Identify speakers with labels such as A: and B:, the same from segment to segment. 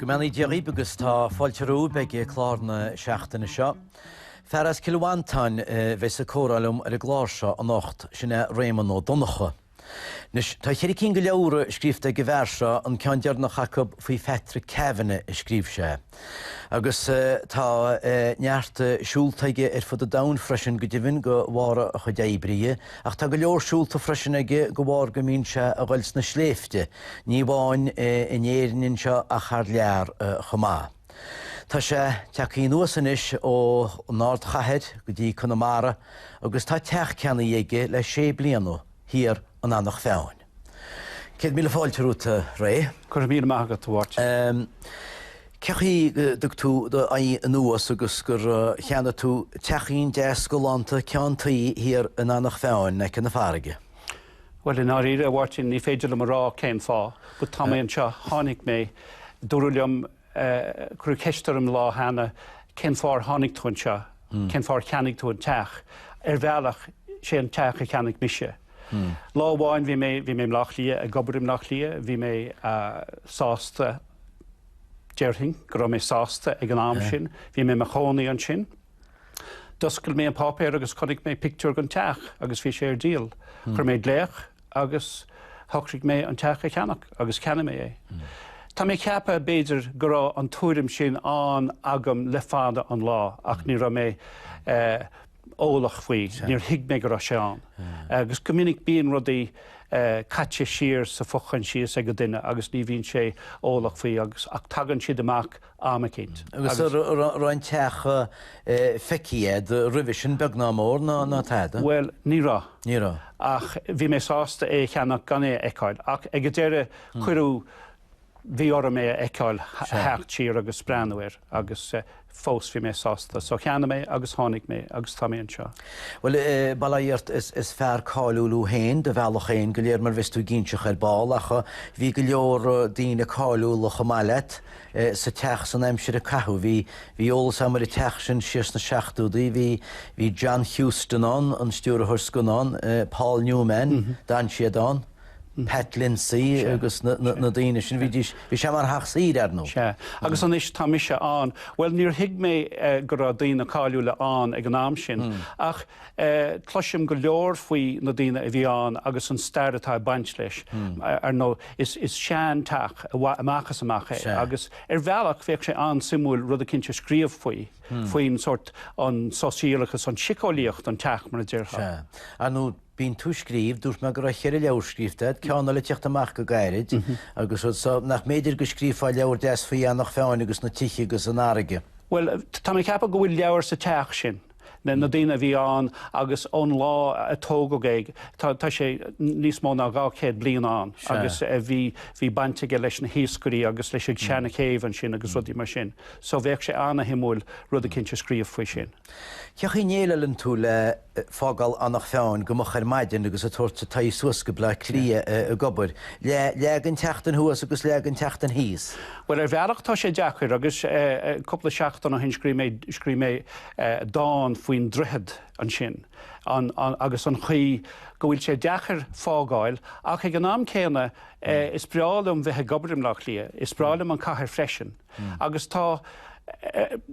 A: Go mbeannaí Dia dhaoib agus tá fáilte romhaib ag clár na seachtaine seo. Fear as Cill Mhantáin a bheidh ag comhrá liom ar an gclár seo anocht, sin é Réamonn Ó Donnchadha. Anois, tá ceithre cinn de leabhra scríofa ag an bhfear seo, an ceann deireanach acu faoi Phatrick Kavanagh a scríobh sé. Agus tá neart siúlta aige ar fud an domhain freisin, go deimhin, de bharr a chuid oibre. Ach tá go leor siúlta freisin aige de bharr go mbíonn sé ag dul sna sléibhte, ní amháin in Éirinn anseo ach thar lear chomh maith. Tá sé tagtha anuas anois ó an ardchathair go dtí Conamara agus tá teach ceannaithe aige le sé bliana, thiar in Anach Mheáin. Céad míle fáilte romhat, a Ray. Go raibh míle maith agat, a Mháirtín. Cé chaoi go dtug tú d'aghaidh anuas agus gur cheannaigh tú teachín deas galánta ceann tuí thiar in Anach Mheáin in aice na farraige? Bhuel, i ndáiríre, a Mháirtín, ní féidir liom a rá cén fáth. Ach tá mé anseo, tháinig mé. Dúradh liom, cuireadh ceist orm lá cheana, cén fáth ar tháinig tú anseo? Cén fáth ar cheannaigh tú an teach? Ar bhealach, sé an teach a cheannaigh mise. Lá amháin, bhí mé, bhí mé i mBleá Cliath, ag obair i mBleá Cliath. Bhí mé sásta, déarfainn go raibh mé sásta ag an am sin. Bhí mé i mo chónaí ansin. D'oscail mé an páipéar agus chonaic mé pictiúr den teach agus bhí sé ar díol. Chuir mé glaoch agus shocraigh mé an teach a cheannach agus cheannaigh mé é. Tá mé ag ceapadh, b'fhéidir, go raibh an tuairim sin ann agam le fada an lá ach ní raibh mé eolach faoi, níor thuig mé go raibh sé ann. Agus go minic bíonn rudaí caite siar sa fho-chomhfhios ag an duine agus ní bhíonn sé eolach faoi ach tagann siad amach am eicínt. Agus an raibh an teach feicthe agat roimhe sin beag ná mór, ná tada? Bhuel, ní raibh. Ní raibh. Ach bhí mé sásta é a cheannach gan é a fheiceáil. Ach ag an deireadh, cuireadh, bhí orm é a fheiceáil, theacht siar agus breathnú air. Agus fós bhí mé sásta. So cheannaigh mé agus tháinig mé agus tá mé anseo. Bhuel, bail ó Dhia ort, is fear cáiliúil thú féin, ar do bhealach féin go léir, mar bheas tú ag inseacht ar ball. Ach bhí go leor daoine cáiliúla chomh maith leat. sa teach san aimsir a caitheadh. Bhí, bhí eolas agam ar an teach sin siar sna seachtóidí, bhí, bhí John Huston ann, an stiúrthóir scannán, Paul Newman, d'fhan siad ann, Pat Lindsay agus na, na, na daoine sin, bhídís, bhí sé mar theach saoire, ar ndóigh. Sea. Agus anois tá mise ann. Bhuel, níor thuig mé go raibh daoine cáiliúla ann ag an am sin, ach. Cloisim go leor faoi na daoine a bhí ann agus an stair atá ag baint leis. Ar ndóigh, is seanteach amach is amach é agus ar bhealach bheadh sé an-suimiúil rud eicínt a scríobh faoi, faoin sort, an sóisialachas, an tsíceolaíocht an teach mar a déarfá. Sea. Ar ndóigh, bíonn tú ag scríobh, dúirt mé go raibh cheithre leabhar scríobhta agat, ceann eile ag teacht amach go gairid agus rudaí, nach mb'fhéidir go scríofá leabhar deas faoi Eanach Mheáin agus na tithe agus an fharraige? Bhuel, tá mé ag ceapadh go bhfuil leabhar sa teach sin. na daoine a bhí ann agus ón lá a tógadh é, tá sé níos mó ná dhá chéad bliain ann agus bhí baint aige leis na hiascairí agus leis an seanchéibh ansin agus rudaí mar sin. So bheadh sé ana-shuimiúil rud eicínt a scríobh faoi sin. Cén chaoi a ndéileáileann tú le fágáil Eanach Mheáin go moch ar maidin agus ag tabhairt t'aghaidh suas go Bleá Cliath ag obair, leath den tseachtain thuas agus leath den tseachtain thíos? Bhuel ar bhealach tá sé deacair agus cúpla seachtain ó shin scríobh mé dán faoin droichead ansin agus an chaoi go bhfuil sé deacair fágáil ach ag an am céanna is breá liom bheith ag obair i mBleá Cliath, is breá liom an cathair freisin agus tá,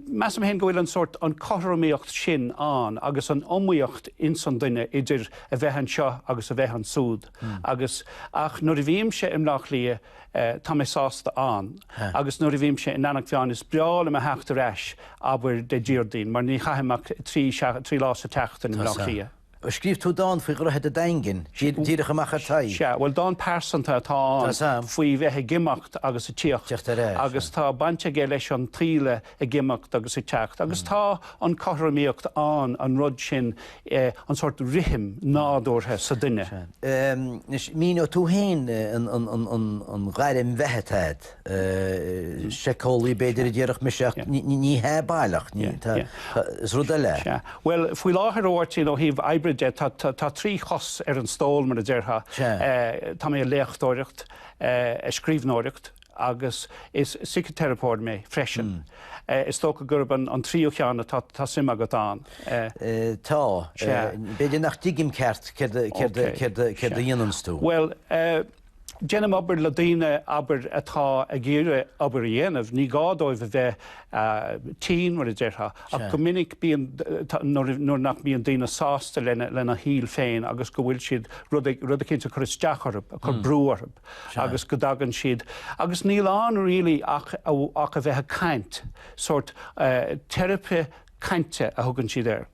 A: measaim féin go bhfuil an sórt, an cothromaíocht sin ann agus an iomaíocht ins an duine idir a bheith anseo agus a bheith ansúd agus, ach nuair a bhímse i mBleá Cliath, Tá mé sásta ann. Agus nuair a bhímse in Eanach Mheáin, is breá liom a theacht ar ais, abair, Dé Déardaoin, mar ní chaithim ach trí lá sa tseachtain i mBleá Cliath. Scríobh tú dán faoi Dhroichead a' Daingin, díreach amach ar t'aghaidh. Sea. Bhuel, dán pearsanta atá ann, faoi bheith ag imeacht agus ag tíocht, agus tá baint aige leis an taoille ag imeacht agus ag teacht agus tá an cothromaíocht ann, an rud sin, an sórt rithim nádúrtha sa duine. Anois, míneoidh tú féin an ghairm bheatha atá agat, síceolaí b'fhéidir a déarfadh mise ach ní hea baileach, is rud eile é. Bhuel, faoi láthair, a Mháirtín, ó thaobh oibre de, tá trí chos ar an stól, mar a déarfá. Tá mé ag léachtóireacht, ag scríbhneoireacht, agus is siciteiripeoir mé freisin. Is dócha gurb an tríú ceann atá suim agat ann. Tá. B'fhéidir nach dtuigim ceart céard a dhéananns tú. Bhuel, déanaim obair le daoine, abair, atá ag iarraidh obair a dhéanamh. Ní gá dóibh a bheith tinn, mar a déarfá, ach go minic bíonn, nuair nach mbíonn daoine sásta lena shaol féin agus go bhfuil siad, rud éicint ag cur isteach orthu, ag cur brú orthu. agus go dtagann siad agus níl ann really ach ach a bheith ag caint, sórt teiripe cainte a thugann siad air.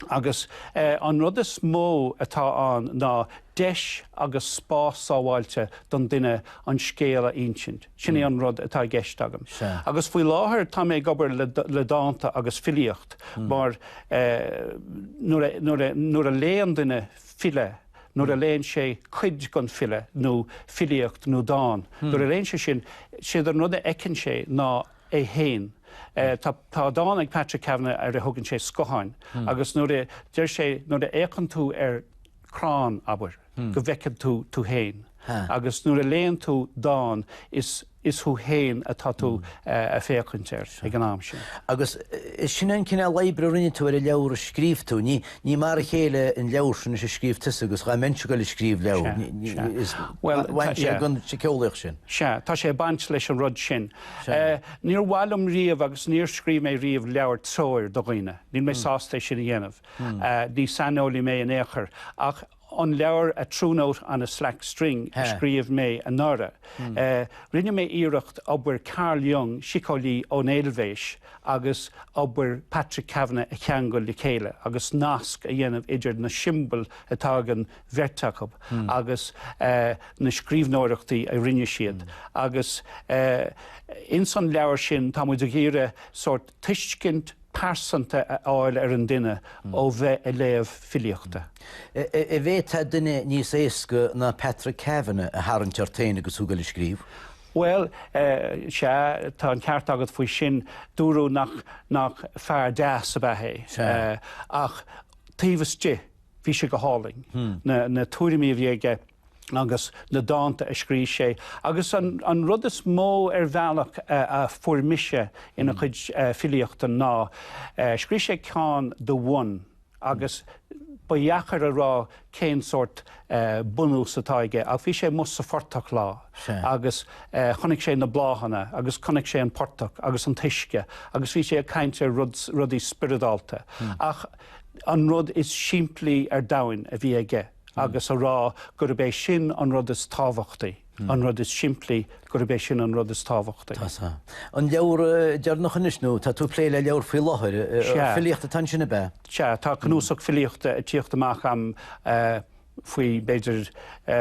A: Agus an rud is mó atá ann ná deis agus spás sábháilte don duine an scéal a insint, sin é an rud atá i gceist agam. Agus faoi láthair tá mé ag obair le le dánta agus filíocht mar nuair a nuair a nuair a léann duine file, nuair a léann sé cuid den file, nó filíocht nó dán, nuair a léann sé sin, séard an rud a fheiceann sé ná é féin. Tá dán ag Patrick Kavanagh ar a thugann sé scotháin agus nuair a deir sé nuair a fhéachann tú ar chrann, abair, go bhfeiceann tú tú féin agus nuair a léann tú dán is. is thú féin atá tú ag féachaint air ag an am sin. Agus sin é an cineál oibre a rinne tú ar an leabhar a scríobh tú. Ní mar a chéile an leabhar sin is a scríobhfása agus dhá mbeinnse ag dul ag scríobh leabhar, bheinnse ag an tsiceolaíocht sin. Sea, tá sé ag baint leis an rud sin. Níor mhaith liom riamh agus níor scríobh mé riamh leabhar treoir do dhaoine, níl mé sásta é sin a dhéanamh. Ní saineolaí mé in aon chor ach. an leabhar A True Note on a Slack String a scríobh mé anuraidh. Rinne mé iarracht obair Carl Jung, síceolaí ón Eilvéis, agus obair Patrick Kavanagh a cheangal le chéile agus nasc a dhéanamh idir na siombail atá ag an bheirt acu agus na scríbhneoireachtaí a rinne siad. Agus ins an leabhar sin tá muid ag iarraidh sórt tuiscint, pearsanta a fháil ar an duine ó bheith ag léamh filíochta. An bhféadfá duine níos éasca ná Patrick Kavanagh a tharraingt ort féin agus thú ag goil ag scríobh? Bhuel, sea, tá an ceart agat faoi sin, dúradh nach nach fear deas ab ea é. Ach taobh istigh, bhí sé go hálainn, na tuairimí a bhí aige. agus na dánta a scrígh sé. Agus an rud is mó ar bhealach a fuair mise ina chuid filíochta ná, scrígh sé ceann The One agus ba dheacair a rá cén sórt bunús atá aige ach bhí sé amuigh sa phortach lá agus chonaic sé na bláthanna agus chonaic sé an portach agus an t-uisce agus bhí sé ag caint ar rudaí spioradálta ach an rud is simplí ar domhain a bhí aige. agus a rá gurb é sin an rud is tábhachtaí, an rud is simplí, gurb é sin an rud is tábhachtaí. Tá, tá. An leabhar deireanach anois, nó tá tú ag plé le leabhar faoi láthair, filíocht atá ansin ab ea? Sea, tá cnuasach filíochta ag tíocht amach agam faoi b'fhéidir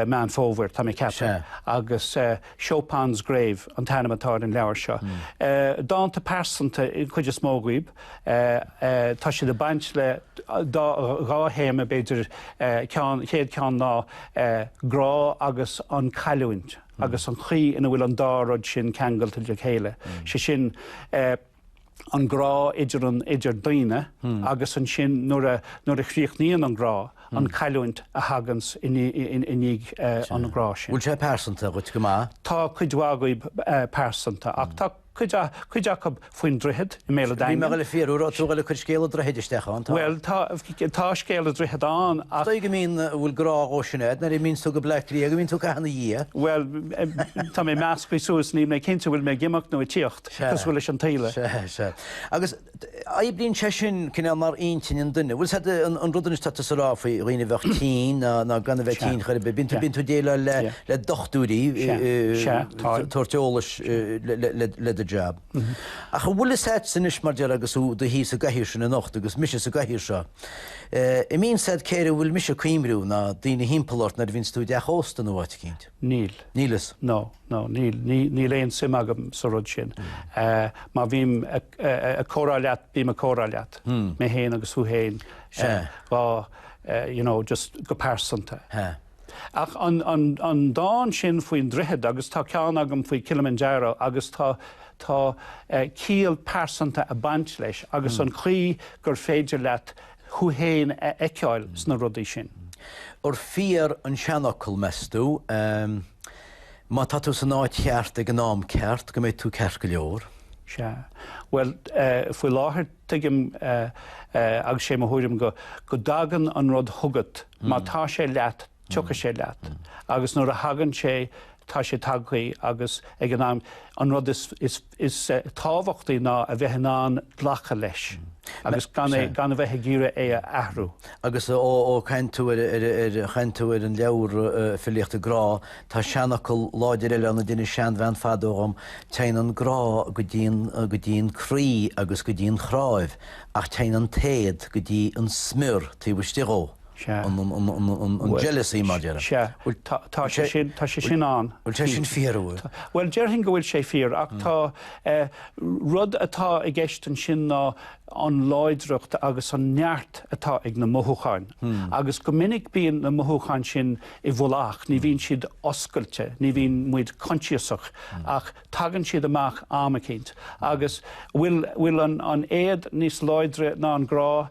A: Meán Fómhair, tá mé ag ceapadh, agus Chopin's Grave an t-ainm atá ar an leabhar seo. Dánta pearsanta an chuid is mó díobh. Tá siad ag baint le dhá théama, b'fhéidir. An chéad cheann ná grá agus an cailliúint agus an chaoi ina bhfuil an dá rud sin ceangailte le chéile. Sé sin, an grá idir idir daoine agus ansin nuair a chríochnaíonn an grá, an cailliúint a thagann i ndiaidh an ghrá sin. Bhfuil sé pearsanta dhuit go maith? Tá cuid mhaith acu pearsanta ach tá. cuid acu faoin droichead i mBéal a' Daingin. Bhí mé le fiafraí, raibh tú le cur scéal an droichid isteach ann, tá? Bhuel, tá, tá scéal an droichid ann ach. Is dóigh go mbíonn, a bhfuil grá dhó, sin é, nuair a mbíonns tú go Bleá Cliath, go mbíonn tú ag caitheamh ina dhiaidh. Bhuel, tá mé measctha suas, níl mé cinnte bhfuil mé ag imeacht nó ag tíocht, cosúil leis an taoille. Sea, sea. Agus. Oibríonn sé sin cineál mar intinn an duine. Bhfuil fhios ad, an rud anois atá tú a rá faoi dhaoine a bheadh tinn ná ná gan a bheith tinn chor ar bith. Bíonn tú bíonn tú ag déileáil le le dochtúirí tabhairt eolais le le do jab. Ach an bhfuil fhios ad anois mar déarfá agus thú i do shuí sa gcathaoir sin anocht agus mise sa gcathaoir seo, an mbíonn fhios ad céard a bhfuil mise ag cuimhniú ná daoine thimpeall ort nuair a bhíonns tú i dteach ósta nó áit éicint? Níl. Níl fhios. No. no, níl, níl aon suim agam sa rud sin. Má bhím ag comhrá leat, bím ag comhrá leat, mé féin agus thú féin, dhá, you know, just go pearsanta. Ach an dán sin faoin droichead, agus tá ceann agam faoi Kilimanjaro, agus tá, tá ciall pearsanta ag baint leis, agus an chaoi gur féidir leat thú féin a fheiceáil sna rudaí sin. Ab fíor an seanfhocal, meastú? Má tá tú san áit cheart ag an am ceart, go mbeidh tú ceart go leor. Sea. Bhuel, faoi láthair, tuigim, agus sé mo thuairim go dtagann an rud chugat má tá sé leat. tiocfaidh sé leat. Agus nuair a thagann sé, tá sé tagtha ag, is ag an am. An rud is tábhachtaí ná a bheith in ann glacadh leis agus gan a bheith ag iarraidh é a athrú. Agus ó chaint tú, ó chaint tú ar an leabhar Filíochta Grá, tá seanfhocal láidir eile ann a d'inis seanbhean fadó dhom, Téann an grá go dtí, go dtí an croí agus go dtí an chnáimh, ach téann an t-éad go dtí an smior taobh istigh dhó. Sea. an jealousy mar déarfainn. Sea. Bhuel tá sé sin, tá sé sin ann. Bhuel tá sin fíor, an bhfuil. Bhuel déarfainn go bhfuil sé fíor ach tá, an rud atá i gceist ansin ná an láidreacht agus an neart atá ag na mothúcháin agus go minic bíonn na mothúcháin sin i bhfolach, ní bhíonn siad oscailte, ní bhíonn muid coinsiasach ach tagann siad amach am eicínt. Agus bhfuil an éad níos láidre ná an grá?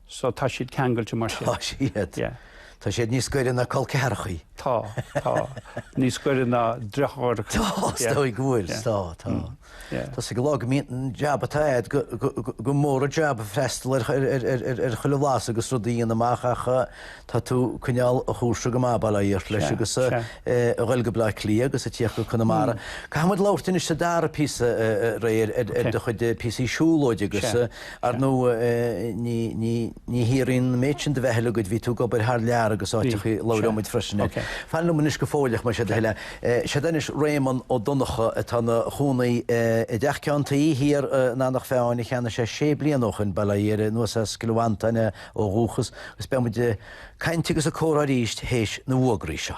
A: So tá siad ceangailte mar sin? Tá siad. Yeah. Tá siad níos gaire ná colceathrachaí. Tá, tá. Níos gaire ná driochárachaí. Tá, is dóigh go bhfuil. Yeah. Tá, tá. Mm. Yeah. Tá sí go lá go mbíonn an jab atá agat go, go, go, go mór an jab freastal ar, ar, ar, ar, ar, ar chuile bhlas agus rud a dhéanamh amach ach eh, tá tú coinneáil an chúrsa go maith, abair le hiarracht leis Sea, agus eh, sea. eh, a ghoil go Bleá Cliath agus ag tíocht go Conamara. Caithfidh muid labhairt anois sa dara píosa eh, eh, réidh ar, ar, ar Sea. do chuid eh, píosaí siúlóide agus Sea. eh, Ar ndóigh, ní áiríonn an méid sin de bheatha agat, bhí tú ag obair thar lear agus áiteachaí, labhróimid freisin air. Fan liom anois go fóilleach, más é do thoil é. 'Sé atá anois Réamonn Ó Donncha atá ina chónaí i dteach ceann tuí thiar in Anach Mheáin a cheannaigh sé sé bliana ó shoin, bail ó Dhia air, anuas as Cill Mhantáin é ó dhúchas, agus beidh muid ag caint agus ag comhrá arís théis na bhfuagraí seo.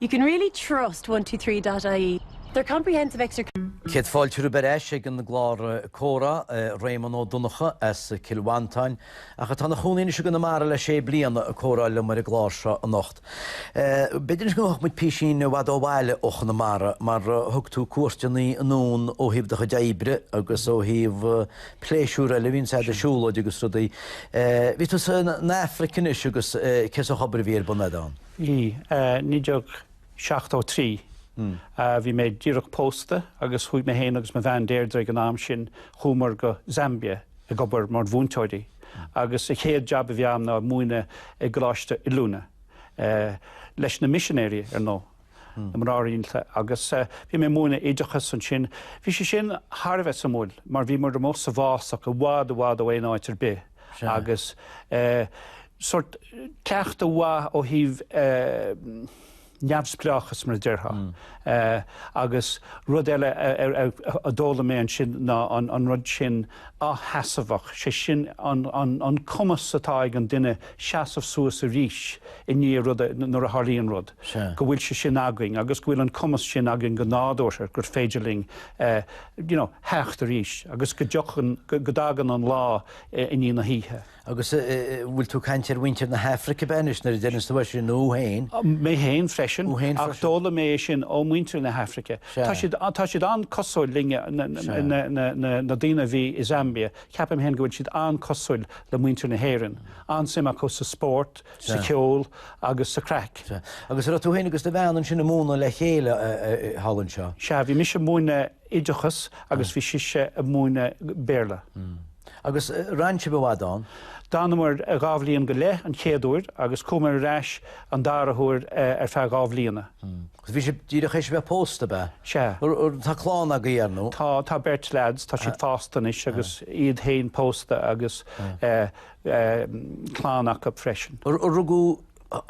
A: You can really trust One-Two-Three dot ie. Their comprehensive extra. Céad fáilte romhaibh ar ais ag an gclár Comhrá, Réamonn Ó Donnchadha as Cill Mhantáin, ach atá ina chónaí anois i gConamara le sé bliana, ag comhrá liom ar an gclár seo anocht. B'fhéidir go mbeadh muid písín i bhfad ó bhaile ó Chonamara, mar thug tú cuairteannaí anonn ó thaobh do chuid oibre agus ó thaobh pléisiúr eile a bhíonn agat, siúlóid agus rudaí. Bhí tú san Aifric anois agus cén sórt obair a bhí ar bun agat ann? I 1973 bhí mé díreach pósta agus chuaigh mé féin agus mo bhean Deirdre ag an am sin, chuamar go Zambia ag obair mar mhúinteoirí agus an chéad jab a bhí agam ná ag múineadh i gcoláiste oiliúna, leis na misinéirí ar ndóigh, na mná rialta agus bhí mé ag múineadh oideachas ansin. Bhí sé sin thar a bheith suimiúil mar bhíomar amuigh sa bhfásach i bhfad i bhfad ó aon áit ar bith. agus sórt cleachtadh mhaith ó thaobh neamhspleáchas mar a déarfá. Agus rud eile a d'fhoghlaim mé ansin ná an rud sin athsheasmhacht, sé sin an cumas atá ag an duine seasamh suas arís i ndiaidh rud nuair a tharlaíonn rud, go bhfuil sé sin againn agus go bhfuil an cumas sin againn go nádúrtha gur féidir linn you know, theacht arís agus go dtiocfainn, go dtagann an lá i ndiaidh na hoíche. Agus eh. bhfuil tú ag caint ar mhuintir na hAfraice ab ea anois nuair a deireann tú é sin, nó thú féin? Mé féin freisin, ach d'fhoghlaim mé é sin ó mhuintir na hAfraice. Tá siad, tá siad an-chosúil linne, na daoine a bhí i Zambia, ceapaim féin go bhfuil siad an-chosúil le muintir na hÉireann, an-suim acu sa spórt, sa cheol agus sa chraic. Sea. Agus a' raibh tú fhéin agus do bhean ansin a' múineadh le chéile thall anseo? Sea, bhí mise a' múineadh oideachas agus bhí sise a' múineadh Béarla. Mm. Agus d'fhan sibh i bhfad ann? D'fhanamar dhá bhliain go leith an chéad uair agus chuamar ar ais an dara huair ar feadh dhá bhliana. Mm. Agus bhí sibh díreach théis a bheith pósta, ab ea? Sea. Tá clann agaibh, ar ndú? Tá, tá beirt leaids, tá siad fásta anois agus iad fhéin pósta agus eh, clann acu freisin. Rugadh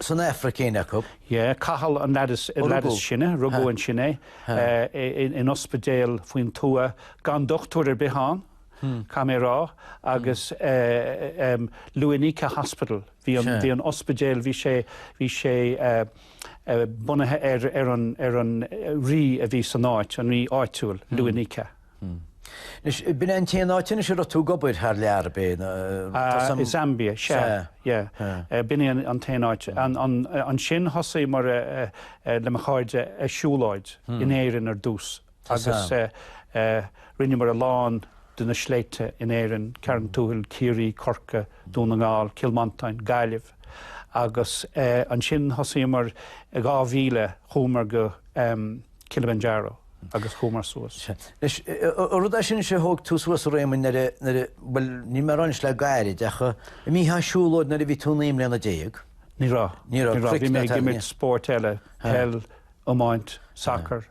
A: san Aifric éinne acu? Yeah, Cathal an lead is sine, rugadh ansin é, in ospidéal faoin tuath, gan dochtúir ar bith ann, caithfidh mé a rá, agus em, Luanika Hospital, bhí an, bhí an ospidéal, bhí sé, bhí sé bunaithe ar an, ar an Rí a bhí san áit, an Rí áitiúil, Luanika. Anois, b'in é an t-aon áit anois a raibh tú ag obair thar lear, ab ea? I Zambia, sea, yeah. B'in é an t-aon áit. Ansin thosaíomar le mo chairde ag siúlóid in Éirinn ar dtús agus rinneamar a lán de na sléibhte in Éirinn, Carn Tuathail, Ciarraí, Corca, Dún na nGall, Cill Mhantáin, Gaillimh. Agus ansin thosaíomar, i 2000, chuamar go. Kilimanjaro agus chuamar suas. Anois, an rud é sin, sé, thóg tú suas an dréim nuair a, nuair a, bhuel, níl mé ag rá anois le gairid ach i mbun siúlóid nuair a bhí tú naoi mbliana déag. Ní raibh, ní raibh, bhí mé ag imirt spóirt eile, peil, iomáint, sacar,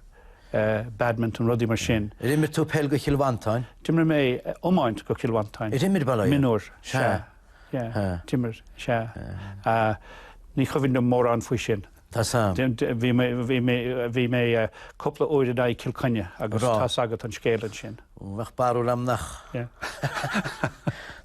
A: badminton, rudaí mar sin. Ar imir tú peil do Chill Mhantáin? D'imir mé iomáint do Cill Mhantáin. Ar imir, bail ort? Mionúir, sea, yeah, d'imir, sea. Ní chuimhin liom mórán faoi sin. Tá a fhios. Bhí mé, bhí mé, bhí mé cúpla uair in aghaidh Cill Chainnigh agus. Rá. Tá a fhios agat an scéal ansin. Bheadh barúil a'm nach,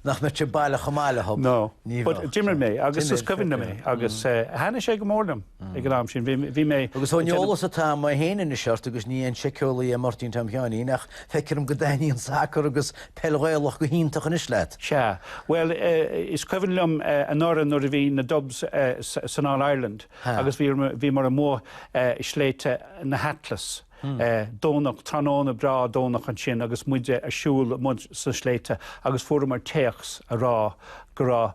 A: nach mbeadh sé baileach chomh maith le Hub. No. Ní bheadh. But d'imir mé agus is cuimhin liom é agus thaitnigh sé go mór liom ag an am sin. Bhí, bhí mé. Agus ón eolas atá a'm, mé féin anois ort agus ní aon síceolaí é Máirtín Tom Sheáinín ach feictear dhom go dtaitníonn sacar agus Peil Ghaelach go hiontach anois leat? Sea. Bhuel, is cuimhin liom anuraidh nuair a bhí na Dubs san All Ireland agus bhíomar amuigh i sléibhte na hAtlas, Dé Domhnaigh, tráthnóna breá Domhnach ansin agus muide a' siúl amuigh sna sléibhte agus fuaireamar téacs a' rá go raibh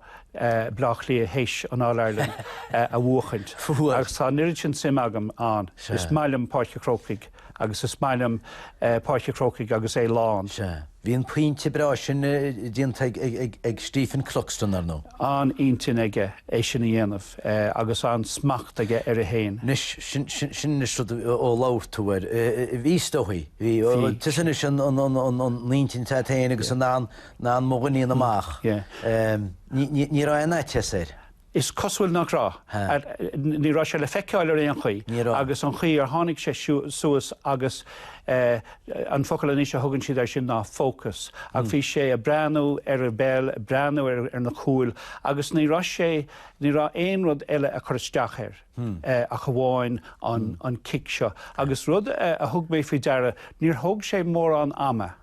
A: Bleá Cliath théis an All Ireland a bhuachaint. Fuair. Agus tá an oiread sin suim agam ann. Sea. Is maith liom Páirc a' Chrócaigh. Agus is maith liom Páirc a' Chrócaigh agus é lán. Sea. Bhí an pointe breá sin déanta ag Stephen Cluxton, ar ndóigh. An-intinn aige é sin a dhéanamh agus an-smacht aige air féin. Anois, sin anois rud ó labhair tú air. Bhí is dóigh. Bhí. Tusa anois an intinn agat féin agus mo dhuinín amach. Ní raibh aon fhaitíos air. Is cosúil nach raibh. Ní raibh sé le feiceáil ar aon chaoi. Ní raibh. Agus an chaoi ar tháinig sé suas agus an focal anois a thugann siad air sin ná focus ach bhí sé ag breathnú ar an bpeil, ag breathnú ar na cúil agus ní raibh sé, ní raibh aon rud eile ag cur isteach air ach amháin an cic seo. Agus rud a thug mé faoi deara, níor thóg sé mórán ama.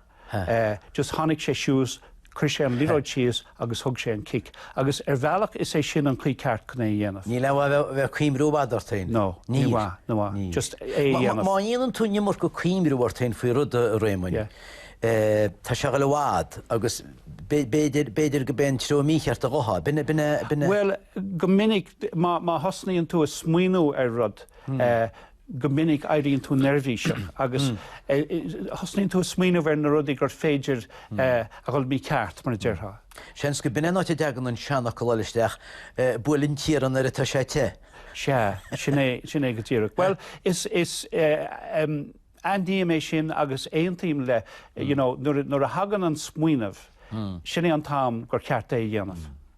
A: just tháinig sé síos, chuir sé an liathróid síos agus thug sé an cic. Agus ar bhealach is é sin an chaoi ceart chun é a dhéanamh. Níl aon mhaith a bheith ag cuimhniú i bhfad ort féin. No, ní mhaith, ní mhaith. Just é a dhéanamh. Má dhéanann tú an iomarca cuimhniú ort féin faoi rud, a Réamoinn, tá sé ag dul i bhfad agus b'fhéidir, b'fhéidir go mbeidh an treo mícheart á thógáil. B'in a, b'in a, b'in a. Bhuel, go minic má thosnaíonn tú ag smaoiniú ar rud, Go minic éiríonn tú neirbhíseach agus thosnaíonn tú ag smaoineamh ar na rudaí gur féidir a dhul mícheart, mar a déarfá. Seans gurb in é an áit a dtagann an seanfhocal úd isteach, buail an t-iarann nuair atá sé te. Sea, sin é, sin é go díreach. Bhuel, is, is, aithním é sin agus aontaím leis, you know, nuair a, nuair a thagann an smaoineamh, sin é an t-am gur cheart é a dhéanamh.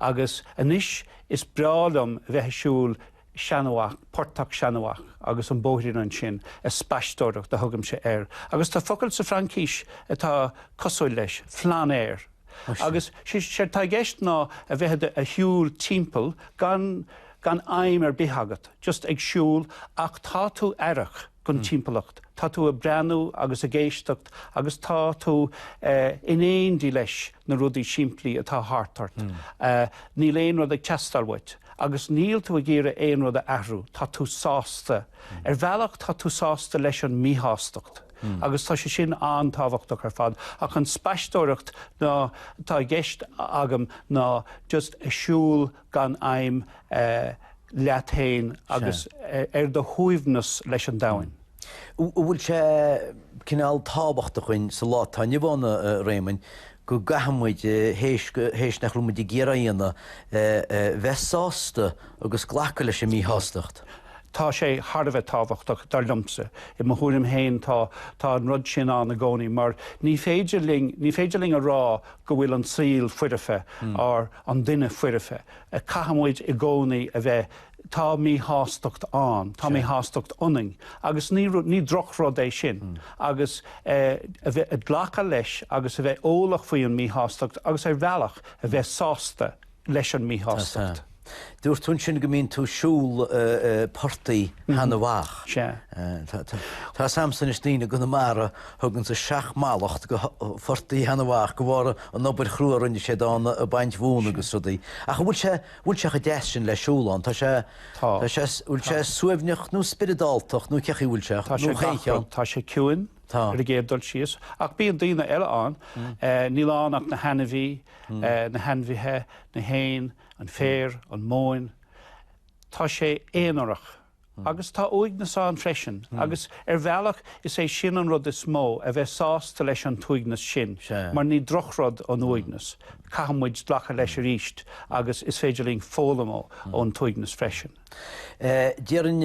A: Agus anois is breá liom a bheith ag siúl Seanadh Mhach, Portach Sheanadh Mhach agus an bóithrín ansin, an spaisteoireacht a thugaimse air. Agus tá focal sa Fhraincis atá cosúil leis, flâneur. Agus séard atá i gceist ná a bheith ag siúl timpeall gan aidhm ar bith agat, just ag siúl ach tá tú aireach. don timpeallacht, tá tú ag breathnú agus ag éisteacht agus tá tú in éindí leis na rudaí simplí atá thart ort. Níl aon rud ag teastáil uait agus níl tú ag iarraidh aon rud a athrú, tá tú sásta. Ar bhealach tá tú sásta leis an míshástacht agus tá sé sin an-tábhachtach ar fad. Ach an spaisteoireacht ná atá i gceist agam ná just siúl gan aidhm leat féin agus ar do shuaimhneas leis an domhan. An bhfuil sé cineál tábhachtach dhúinn sa lá atá inniu ann, a Réamoinn, go gcaithfidh muid, théis nach raibh muid ag iarraidh é a dhéanamh, bheith sásta agus glacadh leis an míshástacht? Tá sé thar a bheith tábhachtach, dar liomsa. I mo thuairim féin, tá an rud sin ann i gcónaí mar ní féidir linn, ní féidir linn a rá go bhfuil an saol foirfe, ná. an duine foirfe. Caithfimid i gcónaí a bheith, tá míshástacht ann, tá míshástacht ionainn, agus ní rud, ní drochrud é sin, agus a bheith, a glacadh leis agus a bheith eolach faoi an míshástacht agus ar bhealach a bheith sásta leis an míshástacht. Dúirt tú ansin go mbíonn tú ag siúl portaigh Sheanadh Mhach. Sea. Tá fhios agam anois daoine i gConamara. Thug sé na seacht mallacht do Phortach Sheana Mhach de bharr an obair chrua a rinne sé ann ag baint mhóna agus rudaí. Ach an bhfuil sé, an bhfuil sé chomh deas sin le siúl ann? Tá sé, Tá. tá sé, an bhfuil sé Tá. suaimhneach nó spioradáltach nó cé chaoi a bhfuil sé? Tá sé Nó chaon gach rud. cheann? Tá sé ciúin Tá. ar an gcéad dul síos. Ní bhíonn daoine eile ann, níl ann ach na hainmhí, na hainmhithe, na héin, an féar, an mhóin. Tá sé aonarach. Agus tá uaigneas ann freisin. Agus ar bhealach is é sin an rud is mó, a bheith sásta leis an t-uaigneas sin, mar ní drochrud an uaigneas. Caithfidh muid glacadh leis arís agus is féidir linn foghlaim ón t-uaigneas freisin. Déarfainn,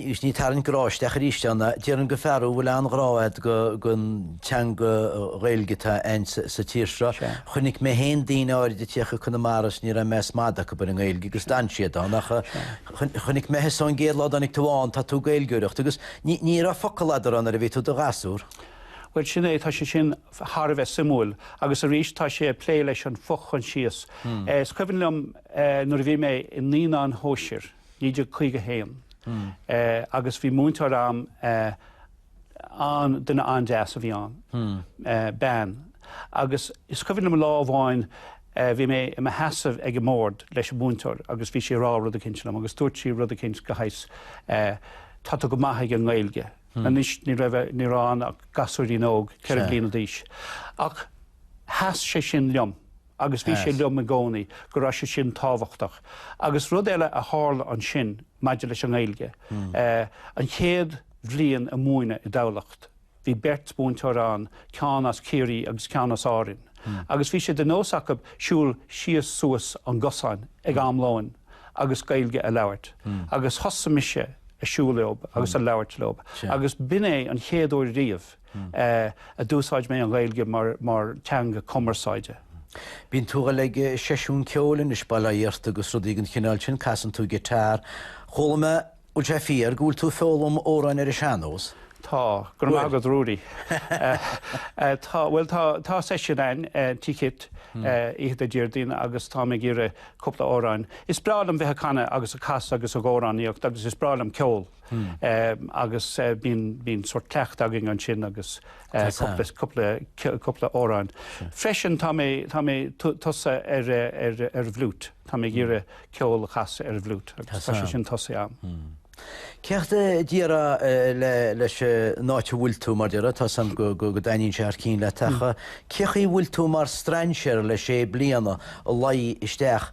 A: ag tarraingt grá isteach arís ann, déarfainn go bhfuil an-ghrá agat don teanga Ghaeilge atá ann sa tír seo. Chonaic mé féin daoine áiride ag tíocht go Conamara agus ní raibh meas madaidh acu ar an nGaeilge agus d'fhan siad ann. Chonaic mé thusa ón gcéad lá a dtáinig tú ann, tá tú ag Gaeilgeoireacht, agus ní, ní raibh focal agat ar ndóigh nuair a bhí tú 'do ghasúr. Bhuel, sin é, tá sé sin thar a bheith suimiúil, agus arís tá sé ag plé leis an fho-choinsias. Is cuimhin liom nuair a bhí mé i naíonáin shóisir, 1951, agus bhí múinteoir a'm, ann, duine an-deas a bhí ann, bean, agus is cuimhin liom lá amháin bhí mé i mo sheasamh ag an mbord leis an múinteoir agus bhí sí ag rá rud eicínt liom agus dúirt sí rud eicínt de shaghas tá tú go maith ag an nGaeilge. Anois ní raibh, ní raibh ann ach gasúirín óg, ceithre bliana d'aois, ach sheas sé sin liom. agus bhí sé liom i gcónaí go raibh sé sin tábhachtach. Agus rud eile a tharla ansin maidir leis an nGaeilge, an chéad bhliain ag múineadh i dTamhlacht, bhí beirt mhúinteoir ann, ceann as Ciarraí agus ceann as Árainn, agus bhí sé de nós acu siúl síos suas an gcosán ag am lóin agus Gaeilge a labhairt. Agus thosaigh mise ag siúl leo agus ag labhairt leo, agus b'in é an chéad uair riamh, a d'úsáid mé an Ghaeilge mar teanga cumarsáide. Bíonn tú ag goil ag seisiún ceoil anois, bail ó Dhia ort agus rudaí den chineál sin, casann tú giotár. Chuala mé, bhfuil sé fíor, go bhfuil tú ag foghlaim amhráin ar an sean-nós? Tá. Go raibh maith agat Ruairí. Tá, bhuel tá, tá seisiún ann, Tigh Kitt, oíche Déardaoin agus táim ag iarraidh cúpla amhráin. Is breá liom bheith ag canadh agus ag casadh agus ag amhránaíocht agus is breá liom ceol. agus bíonn sórt cleachtadh againn ansin agus cúpla amhrán. Freisin, tá mé tosaithe ar an bhfliúit, tá mé ag iarraidh ceol a chasadh ar an bhfliúit agus tá sé sin tosaithe agam. Céard a déarfá leis an áit a bhfuil tú, mar deir tú ansin go dtaitníonn sé thar cinn leat, ach cén chaoi bhfuil tú mar strainséar le sé bliana, a theacht isteach?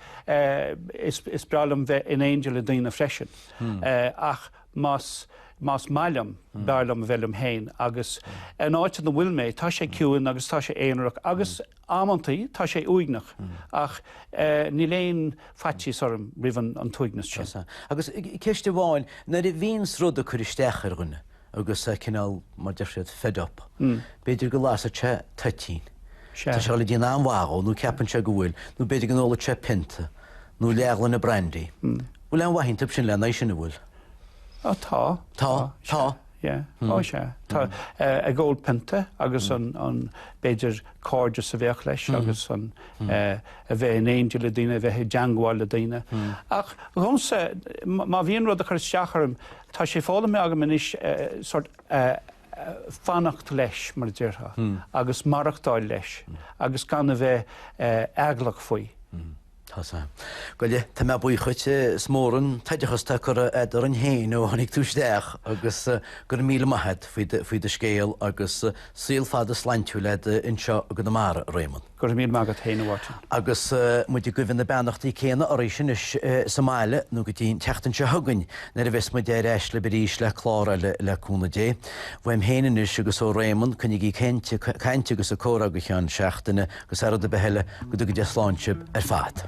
A: Is breá liom bheith in éindi le daoine freisin, ach más maith liom, b'fhearr liom a bheith liom féin. Agus an áit ina bhfuil mé, tá sé ciúin agus tá sé aonarach agus amantaí tá sé uaigneach, ach níl aon faitíos orm roimh an t-uaigneas sin. Agus ceist amháin, nuair a bhíonns rud ag cur isteach ar dhuine, agus cineál, mar a deir siad, fed up. B'fhéidir go lasfaidh sé toitín. Tá sé sin ag déanamh an-mhaith dhó, nó ceapann sé go bhfuil, nó b'fhéidir go n-ólfaidh sé pionta, nó leathghloine brandy. Bhfuil aon mhaith iontab sin le haghaidh sin, an bhfuil? Á, tá. Tá? Tá? Yeah. Á, sea. Tá. Ag ól pionta, agus an, an, b'fhéidir cairdeas a bheadh leis, agus an, a bheith in éindí le daoine, a bheith i dteangmháil le daoine. Ach, dhomsa, má bhíonn rud ag cur isteach orm, Tá sé foghlamtha agam anois sort fanacht leis, mar a déarfá, agus maireachtáil leis agus gan a bheith eaglach faoi. Tá a fhios agat. Bhuel tá mé buíoch dhuit. Is mór an t-oideachas atá curtha agat orainn féin ó tháinig tú isteach agus go raibh míle maith agat faoi do scéal agus saol fada sláintiúil agat anseo i gConamara, a Réamonn. Go raibh míle maith agat féin, a Mháirtín. Agus muid ag guibhe na beannachtaí céanna oraibhse anois sa mbaile, nó go dtí an tseachtain seo chugainn, nuair a bheas muid ar ais libh arís le clár eile, le cúnamh Dé. Uaim féin anois agus ó Réamonn, coinnigí ag caint agus ag comhrá go ceann seachtaine, agus thar rud ar bith eile, go dtuga Dia slán sibh ar fad.